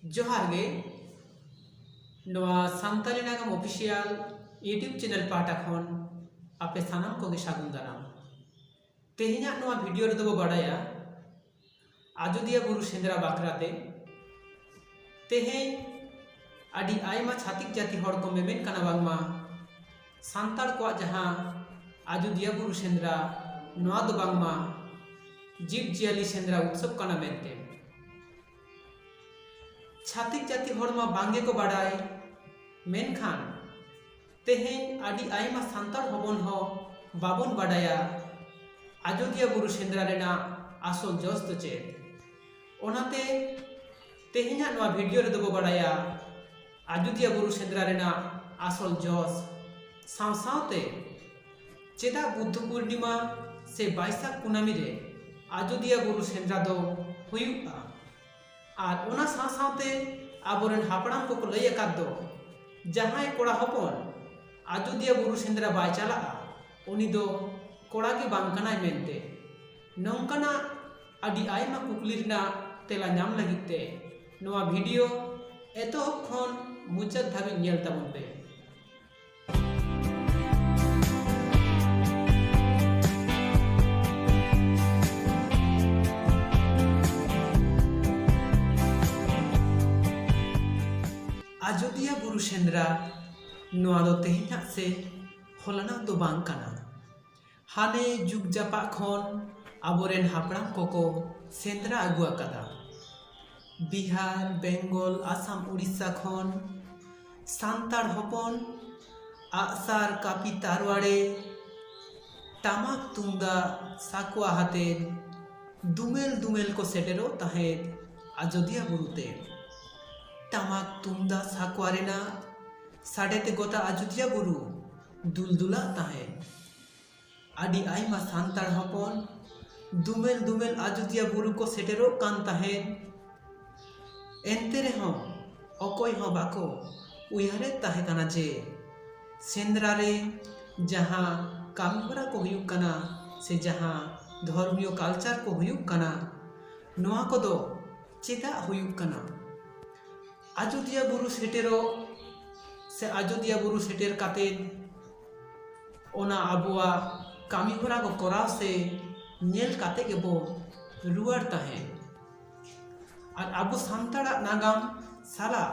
ᱡᱚᱦᱟᱨ ᱜᱮ ᱱᱚᱣᱟ ᱥᱟᱱᱛᱟᱲᱤ ᱱᱟᱜᱟᱢ ᱚᱯᱷᱤᱥᱤᱭᱟᱞ ᱤᱭᱩᱴᱤᱭᱩᱵᱽ ᱪᱮᱱᱮᱞ ᱯᱟᱦᱴᱟ ᱠᱷᱚᱱ ᱟᱯᱮ ᱥᱟᱱᱟᱢ ᱠᱚᱜᱮ ᱥᱟᱹᱜᱩᱱ ᱫᱟᱨᱟᱢ ᱛᱮᱦᱮᱧᱟᱜ ᱱᱚᱣᱟ ᱵᱷᱤᱰᱤᱭᱳ ᱨᱮᱫᱚ ᱵᱚ ᱵᱟᱰᱟᱭᱟ ᱟᱡᱚᱫᱤᱭᱟᱹ ᱵᱩᱨᱩ ᱥᱮᱸᱫᱽᱨᱟ ᱵᱟᱠᱷᱨᱟ ᱛᱮ ᱛᱮᱦᱮᱧ ᱟᱹᱰᱤ ᱟᱭᱢᱟ ᱪᱷᱟᱹᱛᱤᱠ ᱡᱟᱹᱛᱤ ᱦᱚᱲ ᱠᱚ ᱢᱮᱢᱮᱱ ᱠᱟᱱᱟ ᱵᱟᱝᱢᱟ ᱥᱟᱱᱛᱟᱲ ᱠᱚᱣᱟᱜ ᱡᱟᱦᱟᱸ ᱟᱡᱚᱫᱤᱭᱟᱹ ᱵᱩᱨᱩ ᱥᱮᱸᱫᱽᱨᱟ ᱱᱚᱣᱟ ᱫᱚ ᱵᱟᱝᱢᱟ ᱡᱤᱵᱽ ᱡᱤᱭᱟᱹᱞᱤ ᱥᱮᱸᱫᱽᱨᱟ ᱩᱛᱥᱚᱵᱽ ᱠᱟᱱᱟ ᱢᱮᱱᱛᱮ ᱪᱷᱟᱛᱤᱠ ᱡᱟᱹᱛᱤ ᱦᱚᱲ ᱢᱟ ᱵᱟᱝ ᱜᱮᱠᱚ ᱵᱟᱰᱟᱭ ᱢᱮᱱᱠᱷᱟᱱ ᱛᱮᱦᱮᱧ ᱟᱹᱰᱤ ᱟᱭᱢᱟ ᱥᱟᱱᱛᱟᱲ ᱦᱚᱯᱚᱱ ᱦᱚᱸ ᱵᱟᱵᱚᱱ ᱵᱟᱰᱟᱭᱟ ᱟᱡᱚᱫᱤᱭᱟᱹ ᱵᱩᱨᱩ ᱥᱮᱸᱫᱽᱨᱟ ᱨᱮᱱᱟᱜ ᱟᱥᱚᱞ ᱡᱚᱥ ᱫᱚ ᱪᱮᱫ ᱚᱱᱟᱛᱮ ᱛᱮᱦᱮᱧᱟᱜ ᱱᱚᱣᱟ ᱵᱷᱤᱰᱤᱭᱳ ᱨᱮᱫᱚ ᱵᱚ ᱵᱟᱰᱟᱭᱟ ᱟᱡᱚᱫᱤᱭᱟᱹ ᱵᱩᱨᱩ ᱥᱮᱸᱫᱽᱨᱟ ᱨᱮᱱᱟᱜ ᱟᱥᱚᱞ ᱡᱚᱥ ᱥᱟᱶ ᱥᱟᱶᱛᱮ ᱪᱮᱫᱟᱜ ᱵᱩᱫᱽᱫᱷᱚ ᱯᱩᱨᱱᱤᱢᱟ ᱥᱮ ᱵᱟᱭᱥᱟᱠ ᱠᱩᱱᱟᱢᱤ ᱨᱮ ᱟᱡᱚᱫᱤᱭᱟᱹ ᱵᱩᱨᱩ ᱥᱮᱸᱫᱽᱨᱟ ᱫᱚ ᱦᱩᱭᱩᱜᱼᱟ ᱟᱨ ᱚᱱᱟ ᱥᱟᱶ ᱥᱟᱶᱛᱮ ᱟᱵᱚᱨᱮᱱ ᱦᱟᱯᱲᱟᱢ ᱠᱚᱠᱚ ᱞᱟᱹᱭ ᱟᱠᱟᱫ ᱫᱚ ᱡᱟᱦᱟᱸᱭ ᱠᱚᱲᱟ ᱦᱚᱯᱚᱱ ᱟᱡᱚᱫᱤᱭᱟᱹ ᱵᱩᱨᱩ ᱥᱮᱸᱫᱽᱨᱟ ᱵᱟᱭ ᱪᱟᱞᱟᱜᱼᱟ ᱩᱱᱤ ᱫᱚ ᱠᱚᱲᱟ ᱜᱮ ᱵᱟᱝ ᱠᱟᱱᱟᱭ ᱢᱮᱱᱛᱮ ᱱᱚᱝᱠᱟᱱᱟᱜ ᱟᱹᱰᱤ ᱟᱭᱢᱟ ᱠᱩᱠᱞᱤ ᱨᱮᱱᱟᱜ ᱛᱮᱞᱟ ᱧᱟᱢ ᱞᱟᱹᱜᱤᱫ ᱛᱮ ᱱᱚᱣᱟ ᱵᱷᱤᱰᱤᱭᱳ ᱮᱛᱚᱦᱚᱵ ᱠᱷᱚᱱ ᱢᱩᱪᱟᱹᱫ ᱫᱷᱟᱹᱵᱤᱡ ᱧᱮᱞ ᱛᱟᱵᱚᱱ ᱯᱮ ᱟᱡᱚᱫᱤᱭᱟᱹ ᱵᱩᱨᱩ ᱥᱮᱸᱫᱽᱨᱟ ᱱᱚᱣᱟ ᱫᱚ ᱛᱮᱦᱮᱧᱟᱜ ᱥᱮ ᱦᱚᱞᱟᱱᱟᱜ ᱫᱚ ᱵᱟᱝ ᱠᱟᱱᱟ ᱦᱟᱱᱮ ᱡᱩᱜᱽ ᱡᱟᱯᱟᱜ ᱠᱷᱚᱱ ᱟᱵᱚᱨᱮᱱ ᱦᱟᱯᱲᱟᱢ ᱠᱚᱠᱚ ᱥᱮᱸᱫᱽᱨᱟ ᱟᱹᱜᱩ ᱟᱠᱟᱫᱟ ᱵᱤᱦᱟᱨ ᱵᱮᱝᱜᱚᱞ ᱟᱥᱟᱢ ᱩᱲᱤᱥᱥᱟ ᱠᱷᱚᱱ ᱥᱟᱱᱛᱟᱲ ᱦᱚᱯᱚᱱ ᱟᱜᱼᱥᱟᱨ ᱠᱟᱹᱯᱤ ᱛᱟᱨᱣᱟᱲᱮ ᱴᱟᱢᱟᱠ ᱛᱩᱢᱫᱟᱜ ᱥᱟᱠᱣᱟ ᱟᱛᱮ ᱫᱳᱢᱮᱞ ᱫᱳᱢᱮᱞ ᱠᱚ ᱥᱮᱴᱮᱨᱚᱜ ᱛᱟᱦᱮᱸᱫ ᱟᱡᱳᱫᱤᱭᱟᱹ ᱵᱩᱨᱩ ᱛᱮ ᱴᱟᱢᱟᱠ ᱛᱩᱢᱫᱟᱜ ᱥᱟᱠᱣᱟ ᱨᱮᱱᱟᱜ ᱥᱟᱰᱮ ᱛᱮ ᱜᱳᱴᱟ ᱟᱡᱳᱫᱤᱭᱟᱹ ᱵᱩᱨᱩ ᱫᱩᱞᱫᱩᱞᱟᱜ ᱛᱟᱦᱮᱸᱫ ᱟᱹᱰᱤ ᱟᱭᱢᱟ ᱥᱟᱱᱛᱟᱲ ᱦᱚᱯᱚᱱ ᱫᱩᱢᱮᱞ ᱫᱩᱢᱮᱞ ᱟᱡᱚᱫᱤᱭᱟᱹ ᱵᱩᱨᱩ ᱠᱚ ᱥᱮᱴᱮᱨᱚᱜ ᱠᱟᱱ ᱛᱟᱦᱮᱸᱫ ᱮᱱᱛᱮ ᱨᱮᱦᱚᱸ ᱚᱠᱚᱭ ᱦᱚᱸ ᱵᱟᱠᱚ ᱩᱭᱦᱟᱹᱨᱮᱫ ᱛᱟᱦᱮᱸ ᱠᱟᱱᱟ ᱡᱮ ᱥᱮᱸᱫᱽᱨᱟ ᱨᱮ ᱡᱟᱦᱟᱸ ᱠᱟᱹᱢᱤ ᱦᱚᱨᱟ ᱠᱚ ᱦᱩᱭᱩᱜ ᱠᱟᱱᱟ ᱥᱮ ᱡᱟᱦᱟᱸ ᱫᱷᱚᱨᱢᱤᱭᱚ ᱠᱟᱞᱪᱟᱨ ᱠᱚ ᱦᱩᱭᱩᱜ ᱠᱟᱱᱟ ᱱᱚᱣᱟ ᱠᱚᱫᱚ ᱪᱮᱫᱟᱜ ᱦᱩᱭᱩᱜ ᱠᱟᱱᱟ ᱟᱡᱚᱫᱤᱭᱟᱹ ᱵᱩᱨᱩ ᱥᱮᱴᱮᱨᱚᱜ ᱥᱮ ᱟᱡᱚᱫᱤᱭᱟᱹ ᱵᱩᱨᱩ ᱥᱮᱴᱮᱨ ᱠᱟᱛᱮ ᱚᱱᱟ ᱟᱵᱚᱣᱟᱜ ᱠᱟᱹᱢᱤ ᱦᱚᱨᱟ ᱠᱚ ᱠᱚᱨᱟᱣ ᱥᱮ ᱧᱮᱞ ᱠᱟᱛᱮ ᱜᱮᱵᱚ ᱨᱩᱣᱟᱹᱲ ᱛᱟᱦᱮᱸᱫ ᱟᱨ ᱟᱵᱚ ᱥᱟᱱᱛᱟᱲᱟᱜ ᱱᱟᱜᱟᱢ ᱥᱟᱞᱟᱜ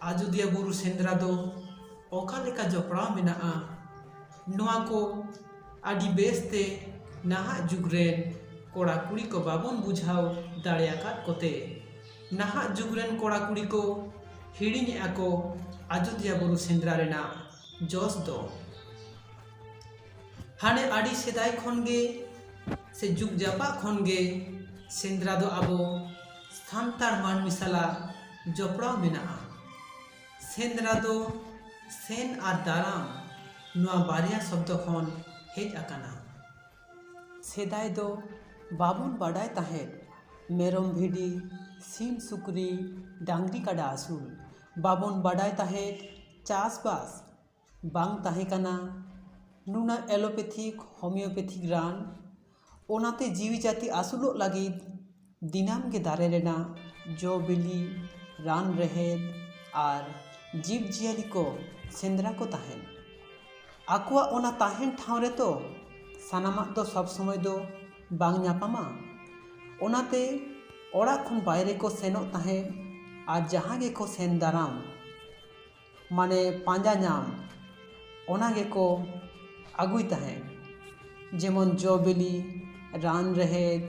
ᱟᱡᱳᱫᱤᱭᱟᱹ ᱵᱩᱨᱩ ᱥᱮᱸᱫᱽᱨᱟ ᱫᱚ ᱚᱠᱟ ᱞᱮᱠᱟ ᱡᱚᱯᱲᱟᱣ ᱢᱮᱱᱟᱜᱼᱟ ᱱᱚᱣᱟ ᱠᱚ ᱟᱹᱰᱤ ᱵᱮᱥᱛᱮ ᱱᱟᱦᱟᱜ ᱡᱩᱜᱽ ᱨᱮᱱ ᱠᱚᱲᱟ ᱠᱩᱲᱤ ᱠᱚ ᱵᱟᱵᱚᱱ ᱵᱩᱡᱷᱟᱹᱣ ᱫᱟᱲᱮᱭᱟᱠᱟᱫ ᱠᱚᱛᱮ ᱱᱟᱦᱟᱜ ᱡᱩᱜᱽ ᱨᱮᱱ ᱠᱚᱲᱟ ᱠᱩᱲᱤ ᱠᱚ ᱦᱤᱲᱤᱧᱮᱫᱼᱟ ᱠᱚ ᱟᱡᱳᱫᱤᱭᱟᱹ ᱵᱩᱨᱩ ᱥᱮᱸᱫᱽᱨᱟ ᱨᱮᱱᱟᱜ ᱡᱚᱥ ᱫᱚ ᱦᱟᱱᱮ ᱟᱹᱰᱤ ᱥᱮᱫᱟᱭ ᱠᱷᱚᱱ ᱜᱮ ᱥᱮ ᱡᱩᱜᱽ ᱡᱟᱯᱟᱜ ᱠᱷᱚᱱ ᱜᱮ ᱥᱮᱸᱫᱽᱨᱟ ᱫᱚ ᱟᱵᱚ ᱥᱟᱱᱛᱟᱲ ᱢᱟᱹᱱᱢᱤ ᱥᱟᱞᱟᱜ ᱡᱚᱯᱲᱟᱣ ᱢᱮᱱᱟᱜᱼᱟ ᱥᱮᱸᱫᱽᱨᱟ ᱫᱚ ᱥᱮᱱ ᱟᱨ ᱫᱟᱨᱟᱢ ᱱᱚᱣᱟ ᱵᱟᱨᱭᱟ ᱥᱚᱵᱫᱚ ᱠᱷᱚᱱ ᱦᱮᱡ ᱟᱠᱟᱱᱟ ᱥᱮᱫᱟᱭ ᱫᱚ ᱵᱟᱵᱚᱱ ᱵᱟᱰᱟᱭ ᱛᱟᱦᱮᱸᱫ ᱢᱮᱨᱚᱢ ᱵᱷᱤᱰᱤ ᱥᱤᱢ ᱥᱩᱠᱨᱤ ᱰᱟᱝᱨᱤ ᱠᱟᱰᱟ ᱟᱹᱥᱩᱞ ᱵᱟᱵᱚᱱ ᱵᱟᱰᱟᱭ ᱛᱟᱦᱮᱸᱫ ᱪᱟᱥᱵᱟᱥ ᱵᱟᱝ ᱛᱟᱦᱮᱸ ᱠᱟᱱᱟ ᱱᱩᱱᱟᱹᱜ ᱮᱞᱳᱯᱮᱛᱷᱤᱠ ᱦᱳᱢᱤᱭᱳᱯᱮᱛᱷᱤᱠ ᱨᱟᱱ ᱚᱱᱟᱛᱮ ᱡᱤᱣᱤ ᱡᱟᱹᱛᱤ ᱟᱹᱥᱩᱞᱚᱜ ᱞᱟᱹᱜᱤᱫ ᱫᱤᱱᱟᱹᱢ ᱜᱮ ᱫᱟᱨᱮ ᱨᱮᱱᱟᱜ ᱡᱚ ᱵᱤᱞᱤ ᱨᱟᱱ ᱨᱮᱦᱮᱫ ᱟᱨ ᱡᱤᱵᱽᱼᱡᱤᱭᱟᱹᱞᱤ ᱠᱚ ᱥᱮᱸᱫᱽᱨᱟ ᱠᱚ ᱛᱟᱦᱮᱸᱫ ᱟᱠᱚᱣᱟᱜ ᱚᱱᱟ ᱛᱟᱦᱮᱱ ᱴᱷᱟᱶ ᱨᱮᱛᱚ ᱥᱟᱱᱟᱢᱟᱜ ᱫᱚ ᱥᱚᱵᱽ ᱥᱚᱢᱚᱭ ᱫᱚ ᱵᱟᱝ ᱧᱟᱯᱟᱢᱟ ᱚᱱᱟᱛᱮ ᱚᱲᱟᱜ ᱠᱷᱚᱱ ᱵᱟᱭᱨᱮ ᱠᱚ ᱥᱮᱱᱚᱜ ᱛᱟᱦᱮᱸᱫ ᱟᱨ ᱡᱟᱦᱟᱸ ᱜᱮᱠᱚ ᱥᱮᱱ ᱫᱟᱨᱟᱢ ᱢᱟᱱᱮ ᱯᱟᱸᱡᱟ ᱧᱟᱢ ᱚᱱᱟ ᱜᱮᱠᱚ ᱟᱹᱜᱩᱭ ᱛᱟᱦᱮᱸᱜ ᱡᱮᱢᱚᱱ ᱡᱚ ᱵᱤᱞᱤ ᱨᱟᱱ ᱨᱮᱦᱮᱫ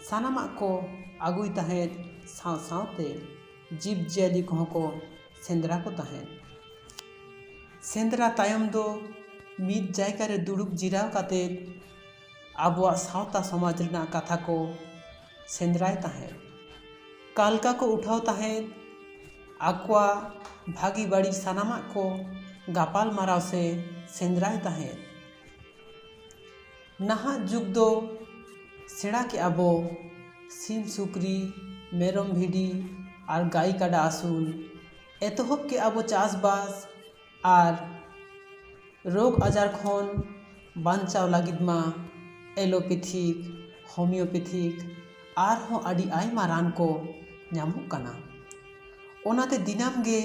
ᱥᱟᱱᱟᱢᱟᱜ ᱠᱚ ᱟᱹᱜᱩᱭ ᱛᱟᱦᱮᱸᱜ ᱥᱟᱶ ᱥᱟᱶᱛᱮ ᱡᱤᱵᱽ ᱡᱤᱭᱟᱹᱞᱤ ᱠᱚᱦᱚᱸ ᱠᱚ ᱥᱮᱸᱫᱽᱨᱟ ᱠᱚ ᱛᱟᱦᱮᱸᱜ ᱥᱮᱸᱫᱽᱨᱟ ᱛᱟᱭᱚᱢ ᱫᱚ ᱢᱤᱫ ᱡᱟᱭᱜᱟᱨᱮ ᱫᱩᱲᱩᱵ ᱡᱤᱨᱟᱹᱣ ᱠᱟᱛᱮᱜ ᱟᱵᱚᱣᱟᱜ ᱥᱟᱶᱛᱟ ᱥᱚᱢᱟᱡᱽ ᱨᱮᱱᱟᱜ ᱠᱟᱛᱷᱟ ᱠᱚ ᱥᱮᱸᱫᱽᱨᱟᱭ ᱛᱟᱦᱮᱸᱫ ᱠᱟᱞᱠᱟ ᱠᱚ ᱩᱴᱷᱟᱹᱣ ᱛᱟᱦᱮᱸᱫ ᱟᱠᱚᱣᱟᱜ ᱵᱷᱟᱹᱜᱤ ᱵᱟᱹᱲᱤᱡ ᱥᱟᱱᱟᱢᱟᱜ ᱠᱚ ᱜᱟᱯᱟᱞ ᱢᱟᱨᱟᱣ ᱥᱮ ᱥᱮᱸᱫᱽᱨᱟᱭ ᱛᱟᱦᱮᱸᱫ ᱱᱟᱦᱟᱜ ᱡᱩᱜᱽ ᱫᱚ ᱥᱮᱬᱟ ᱠᱮᱜᱼᱟ ᱵᱚ ᱥᱤᱢ ᱥᱩᱠᱨᱤ ᱢᱮᱨᱚᱢ ᱵᱷᱤᱰᱤ ᱟᱨ ᱜᱟᱹᱭ ᱠᱟᱰᱟ ᱟᱹᱥᱩᱞ ᱮᱛᱚᱦᱚᱵ ᱠᱮᱜᱼᱟ ᱵᱚ ᱪᱟᱥᱼᱵᱟᱥ ᱟᱨ ᱨᱳᱜᱽ ᱟᱡᱟᱨ ᱠᱷᱚᱱ ᱵᱟᱧᱪᱟᱣ ᱞᱟᱹᱜᱤᱫ ᱢᱟ ᱮᱞᱳᱯᱮᱛᱷᱤ ᱦᱳᱢᱤᱭᱳᱯᱮᱛᱷᱤ ᱟᱨᱦᱚᱸ ᱟᱹᱰᱤ ᱟᱭᱢᱟ ᱨᱟᱱ ᱠᱚ ᱧᱟᱢᱚᱜ ᱠᱟᱱᱟ ᱚᱱᱟᱛᱮ ᱫᱤᱱᱟᱹᱢ ᱜᱮ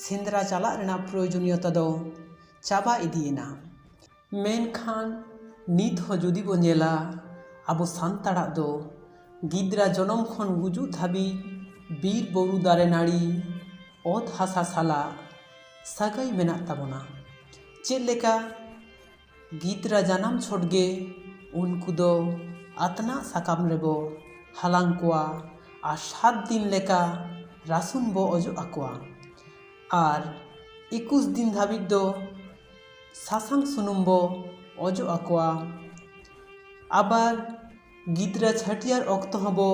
ᱥᱮᱸᱫᱽᱨᱟ ᱪᱟᱞᱟᱜ ᱨᱮᱱᱟᱜ ᱯᱨᱳᱭᱳᱡᱚᱱᱤᱭᱚᱛᱟ ᱫᱚ ᱪᱟᱵᱟ ᱤᱫᱤᱭᱮᱱᱟ ᱢᱮᱱᱠᱷᱟᱱ ᱱᱤᱛ ᱦᱚᱸ ᱡᱩᱫᱤ ᱵᱚᱱ ᱧᱮᱞᱟ ᱟᱵᱚ ᱥᱟᱱᱛᱟᱲᱟᱜ ᱫᱚ ᱜᱤᱫᱽᱨᱟᱹ ᱡᱚᱱᱚᱢ ᱠᱷᱚᱱ ᱜᱩᱡᱩᱜ ᱫᱷᱟᱹᱵᱤᱡ ᱵᱤᱨ ᱵᱩᱨᱩ ᱫᱟᱨᱮ ᱱᱟᱹᱲᱤ ᱚᱛ ᱦᱟᱥᱟ ᱥᱟᱞᱟᱜ ᱥᱟᱹᱜᱟᱹᱭ ᱢᱮᱱᱟᱜ ᱛᱟᱵᱚᱱᱟ ᱪᱮᱫ ᱞᱮᱠᱟ ᱜᱤᱫᱽᱨᱟᱹ ᱡᱟᱱᱟᱢ ᱪᱷᱚᱴ ᱜᱮ ᱩᱱᱠᱩ ᱫᱚ ᱟᱛᱱᱟᱜ ᱥᱟᱠᱟᱢ ᱨᱮᱵᱚ ᱦᱟᱞᱟᱝ ᱠᱚᱣᱟ ᱟᱨ ᱥᱟᱛ ᱫᱤᱱ ᱞᱮᱠᱟ ᱨᱟᱹᱥᱩᱱ ᱵᱚ ᱚᱡᱚᱜ ᱟᱠᱚᱣᱟ ᱟᱨ ᱮᱠᱩᱥ ᱫᱤᱱ ᱫᱷᱟᱹᱵᱤᱡ ᱫᱚ ᱥᱟᱥᱟᱝ ᱥᱩᱱᱩᱢ ᱵᱚ ᱚᱡᱚᱜ ᱟᱠᱚᱣᱟ ᱟᱵᱟᱨ ᱜᱤᱫᱽᱨᱟᱹ ᱪᱷᱟᱹᱴᱭᱟᱹᱨ ᱚᱠᱛᱚ ᱦᱚᱸᱵᱚ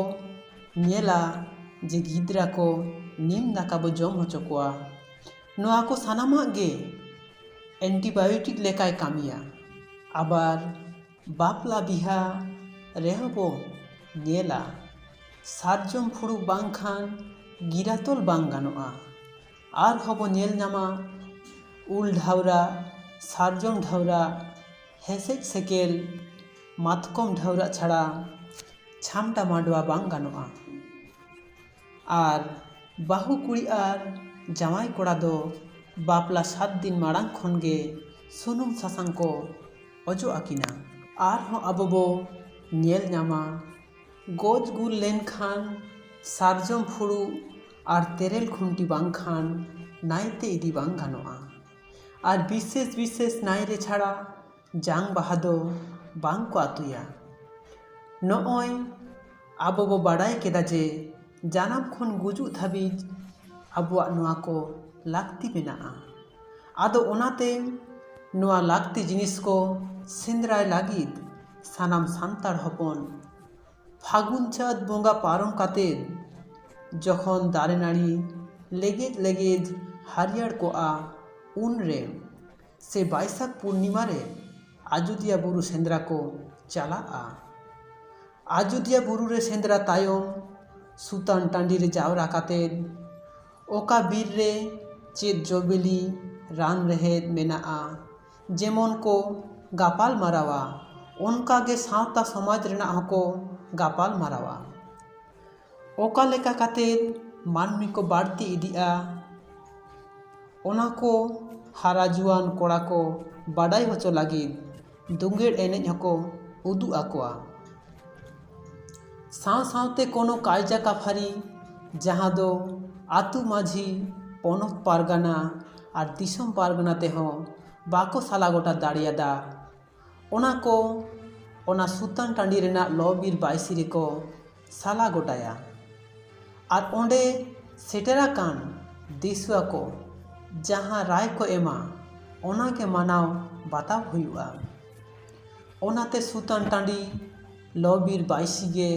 ᱧᱮᱞᱟ ᱡᱮ ᱜᱤᱫᱽᱨᱟᱹ ᱠᱚ ᱱᱤᱢ ᱫᱟᱠᱟ ᱵᱚ ᱡᱚᱢ ᱦᱚᱪᱚ ᱠᱚᱣᱟ ᱱᱚᱣᱟ ᱠᱚ ᱥᱟᱱᱟᱢᱟᱜ ᱜᱮ ᱮᱱᱴᱤᱵᱟᱭᱳᱴᱤᱠ ᱞᱮᱠᱟᱭ ᱠᱟᱹᱢᱤᱭᱟ ᱟᱵᱟᱨ ᱵᱟᱯᱞᱟ ᱵᱤᱦᱟᱹ ᱨᱮᱦᱚᱸ ᱵᱚ ᱧᱮᱞᱟ ᱥᱟᱨᱡᱚᱢ ᱯᱷᱩᱲᱩᱜ ᱵᱟᱝᱠᱷᱟᱱ ᱜᱤᱨᱟᱹ ᱛᱚᱞ ᱵᱟᱝ ᱜᱟᱱᱚᱜᱼᱟ ᱟᱨᱦᱚᱸ ᱵᱚᱱ ᱧᱮᱞ ᱧᱟᱢᱟ ᱩᱞ ᱰᱷᱟᱣᱨᱟᱜ ᱥᱟᱨᱡᱚᱢ ᱰᱷᱟᱣᱨᱟᱜ ᱦᱮᱸᱥᱮᱡ ᱥᱮᱠᱮᱞ ᱢᱟᱛᱠᱚᱢ ᱰᱷᱟᱣᱨᱟᱜ ᱪᱷᱟᱲᱟ ᱪᱷᱟᱢᱰᱟ ᱢᱟᱰᱣᱟ ᱵᱟᱝ ᱜᱟᱱᱚᱜᱼᱟ ᱟᱨ ᱵᱟᱹᱦᱩ ᱠᱩᱲᱤ ᱟᱨ ᱡᱟᱶᱟᱭ ᱠᱚᱲᱟ ᱫᱚ ᱵᱟᱯᱞᱟ ᱥᱟᱛ ᱫᱤᱱ ᱢᱟᱲᱟᱝ ᱠᱷᱚᱱ ᱜᱮ ᱥᱩᱱᱩᱢ ᱥᱟᱥᱟᱝ ᱠᱚ ᱚᱡᱚᱜ ᱟᱹᱠᱤᱱᱟ ᱟᱨᱦᱚᱸ ᱟᱵᱚ ᱵᱚ ᱧᱮᱞ ᱧᱟᱢᱟ ᱜᱚᱡ ᱜᱩᱨ ᱞᱮᱱᱠᱷᱟᱱ ᱥᱟᱨᱡᱚᱢ ᱯᱷᱩᱲᱩᱜ ᱟᱨ ᱛᱮᱨᱮᱞ ᱠᱷᱩᱱᱴᱤ ᱵᱟᱝᱠᱷᱟᱱ ᱱᱟᱭᱛᱮ ᱤᱫᱤ ᱵᱟᱝ ᱜᱟᱱᱚᱜᱼᱟ ᱟᱨ ᱵᱤᱥᱮᱥ ᱵᱤᱥᱮᱥ ᱱᱟᱭ ᱨᱮ ᱪᱷᱟᱲᱟ ᱡᱟᱝ ᱵᱟᱦᱟ ᱫᱚ ᱵᱟᱝ ᱠᱚ ᱟᱹᱛᱩᱭᱟ ᱱᱚᱜᱼᱚᱭ ᱟᱵᱚ ᱵᱚ ᱵᱟᱲᱟᱭ ᱠᱮᱫᱟ ᱡᱮ ᱡᱟᱱᱟᱢ ᱠᱷᱚᱱ ᱜᱩᱡᱩᱜ ᱫᱷᱟᱹᱵᱤᱡ ᱟᱵᱚᱣᱟᱜ ᱱᱚᱣᱟ ᱠᱚ ᱞᱟᱹᱠᱛᱤ ᱢᱮᱱᱟᱜᱼᱟ ᱟᱫᱚ ᱚᱱᱟᱛᱮ ᱱᱚᱣᱟ ᱞᱟᱹᱠᱛᱤ ᱡᱤᱱᱤᱥ ᱠᱚ ᱥᱮᱸᱫᱽᱨᱟᱭ ᱞᱟᱹᱜᱤᱫ ᱥᱟᱱᱟᱢ ᱥᱟᱱᱛᱟᱲ ᱦᱚᱯᱚᱱ ᱯᱷᱟᱹᱜᱩᱱ ᱪᱟᱹᱛ ᱵᱚᱸᱜᱟ ᱯᱟᱨᱚᱢ ᱠᱟᱛᱮ ᱡᱚᱠᱷᱚᱱ ᱫᱟᱨᱮ ᱱᱟᱹᱲᱤ ᱞᱮᱜᱮᱡ ᱞᱮᱜᱮᱡ ᱦᱟᱹᱨᱭᱟᱹᱲ ᱠᱚᱜᱼᱟ ᱩᱱ ᱨᱮ ᱥᱮ ᱵᱟᱹᱭᱥᱟᱹᱠᱷ ᱯᱩᱨᱱᱤᱢᱟ ᱨᱮ ᱟᱡᱳᱫᱤᱭᱟᱹ ᱵᱩᱨᱩ ᱥᱮᱸᱫᱽᱨᱟ ᱠᱚ ᱪᱟᱞᱟᱜᱼᱟ ᱟᱡᱳᱫᱤᱭᱟᱹ ᱵᱩᱨᱩ ᱨᱮ ᱥᱮᱸᱫᱽᱨᱟ ᱛᱟᱭᱚᱢ ᱥᱩᱛᱟᱱ ᱴᱟᱺᱰᱤ ᱨᱮ ᱡᱟᱣᱨᱟ ᱠᱟᱛᱮ ᱚᱠᱟ ᱵᱤᱨ ᱨᱮ ᱪᱮᱫ ᱡᱚ ᱵᱤᱞᱤ ᱨᱟᱱ ᱨᱮᱦᱮᱫ ᱢᱮᱱᱟᱜᱼᱟ ᱡᱮᱢᱚᱱ ᱠᱚ ᱜᱟᱯᱟᱞ ᱢᱟᱨᱟᱣᱟ ᱚᱱᱠᱟ ᱜᱮ ᱥᱟᱶᱛᱟ ᱥᱚᱢᱟᱡᱽ ᱨᱮᱱᱟᱜ ᱦᱚᱸᱠᱚ ᱜᱟᱯᱟᱞ ᱢᱟᱨᱟᱣᱟ ᱚᱠᱟ ᱞᱮᱠᱟ ᱠᱟᱛᱮ ᱢᱟᱹᱱᱢᱤ ᱠᱚ ᱵᱟᱹᱲᱛᱤ ᱤᱫᱤᱜᱼᱟ ᱚᱱᱟ ᱠᱚ ᱦᱟᱨᱟ ᱡᱩᱣᱟᱹᱱ ᱠᱚᱲᱟ ᱠᱚ ᱵᱟᱰᱟᱭ ᱦᱚᱪᱚ ᱞᱟᱹᱜᱤᱫ ᱫᱩᱝᱜᱟᱹᱲ ᱮᱱᱮᱡ ᱦᱚᱸᱠᱚ ᱩᱫᱩᱜ ᱟᱠᱚᱣᱟ ᱥᱟᱶ ᱥᱟᱶᱛᱮ ᱠᱳᱱᱳ ᱠᱟᱭᱫᱟ ᱠᱟᱯᱷᱟᱨᱤ ᱡᱟᱦᱟᱸ ᱫᱚ ᱟᱛᱳ ᱢᱟᱹᱡᱷᱤ ᱯᱚᱱᱚᱛ ᱯᱟᱨᱜᱟᱱᱟ ᱟᱨ ᱫᱤᱥᱚᱢ ᱯᱟᱨᱜᱟᱱᱟ ᱛᱮᱦᱚᱸ ᱵᱟᱠᱚ ᱥᱟᱞᱟ ᱜᱚᱴᱟ ᱫᱟᱲᱮᱭᱟᱫᱟ ᱚᱱᱟ ᱠᱚ ᱚᱱᱟ ᱥᱩᱛᱟᱱ ᱴᱟᱺᱰᱤ ᱨᱮᱱᱟᱜ ᱞᱚᱼᱵᱤᱨ ᱵᱟᱹᱭᱥᱤ ᱨᱮᱠᱚ ᱥᱟᱞᱟ ᱜᱚᱴᱟᱭᱟ ᱟᱨ ᱚᱸᱰᱮ ᱥᱮᱴᱮᱨ ᱟᱠᱟᱱ ᱫᱤᱥᱩᱣᱟ ᱠᱚ ᱡᱟᱦᱟᱸ ᱨᱟᱭ ᱠᱚ ᱮᱢᱟ ᱚᱱᱟ ᱜᱮ ᱢᱟᱱᱟᱣ ᱵᱟᱛᱟᱣ ᱦᱩᱭᱩᱜᱼᱟ ᱚᱱᱟᱛᱮ ᱥᱩᱛᱟᱹᱱ ᱴᱟᱺᱰᱤ ᱞᱚ ᱵᱤᱨ ᱵᱟᱭᱥᱤ ᱜᱮ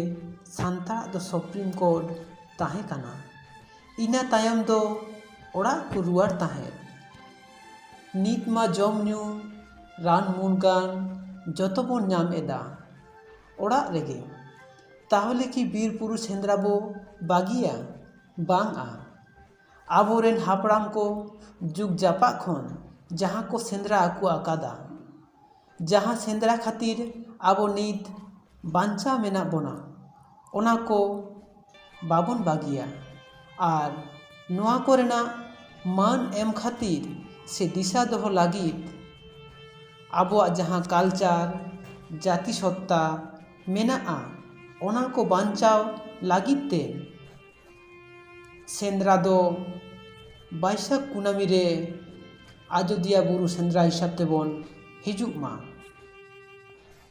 ᱥᱟᱱᱛᱟᱲᱟᱜ ᱫᱚ ᱥᱩᱯᱨᱤᱢ ᱠᱳᱨᱴ ᱛᱟᱦᱮᱸ ᱠᱟᱱᱟ ᱤᱱᱟᱹ ᱛᱟᱭᱚᱢ ᱫᱚ ᱚᱲᱟᱜ ᱠᱚ ᱨᱩᱣᱟᱹᱲ ᱛᱟᱦᱮᱸᱫ ᱱᱤᱛ ᱢᱟ ᱡᱚᱢ ᱧᱩ ᱨᱟᱱ ᱢᱩᱨᱜᱟᱹᱱ ᱡᱚᱛᱚ ᱵᱚᱱ ᱧᱟᱢ ᱮᱫᱟ ᱚᱲᱟᱜ ᱨᱮᱜᱮ ᱛᱟᱦᱚᱞᱮ ᱠᱤ ᱵᱤᱨ ᱵᱩᱨᱩ ᱥᱮᱸᱫᱽᱨᱟ ᱵᱚ ᱵᱟᱹᱜᱤᱭᱟ ᱵᱟᱝᱼᱟ ᱟᱵᱚ ᱨᱮᱱ ᱦᱟᱯᱲᱟᱢ ᱠᱚ ᱡᱩᱜᱽ ᱡᱟᱯᱟᱜ ᱠᱷᱚᱱ ᱡᱟᱦᱟᱸ ᱠᱚ ᱥᱮᱸᱫᱽᱨᱟ ᱟᱹᱜᱩ ᱟᱠᱟᱫᱟ ᱡᱟᱦᱟᱸ ᱥᱮᱸᱫᱽᱨᱟ ᱠᱷᱟᱹᱛᱤᱨ ᱟᱵᱚ ᱱᱤᱛ ᱵᱟᱧᱪᱟᱣ ᱢᱮᱱᱟᱜ ᱵᱚᱱᱟ ᱚᱱᱟ ᱠᱚ ᱵᱟᱵᱚᱱ ᱵᱟᱹᱜᱤᱭᱟ ᱟᱨ ᱱᱚᱣᱟ ᱠᱚᱨᱮᱱᱟᱜ ᱢᱟᱹᱱ ᱮᱢ ᱠᱷᱟᱹᱛᱤᱨ ᱥᱮ ᱫᱤᱥᱟᱹ ᱫᱚᱦᱚ ᱞᱟᱹᱜᱤᱫ ᱟᱵᱚᱣᱟᱜ ᱡᱟᱦᱟᱸ ᱠᱟᱞᱪᱟᱨ ᱡᱟᱹᱛᱤ ᱥᱚᱛᱛᱟ ᱢᱮᱱᱟᱜᱼᱟ ᱚᱱᱟ ᱠᱚ ᱵᱟᱧᱪᱟᱣ ᱞᱟᱹᱜᱤᱫ ᱛᱮ ᱥᱮᱸᱫᱽᱨᱟ ᱫᱚ ᱵᱟᱹᱭᱥᱟᱹᱠᱷ ᱠᱩᱱᱟᱹᱢᱤ ᱨᱮ ᱟᱡᱳᱫᱤᱭᱟᱹ ᱵᱩᱨᱩ ᱥᱮᱸᱫᱽᱨᱟ ᱦᱤᱥᱟᱹᱵ ᱛᱮᱵᱚᱱ ᱦᱤᱡᱩᱜ ᱢᱟ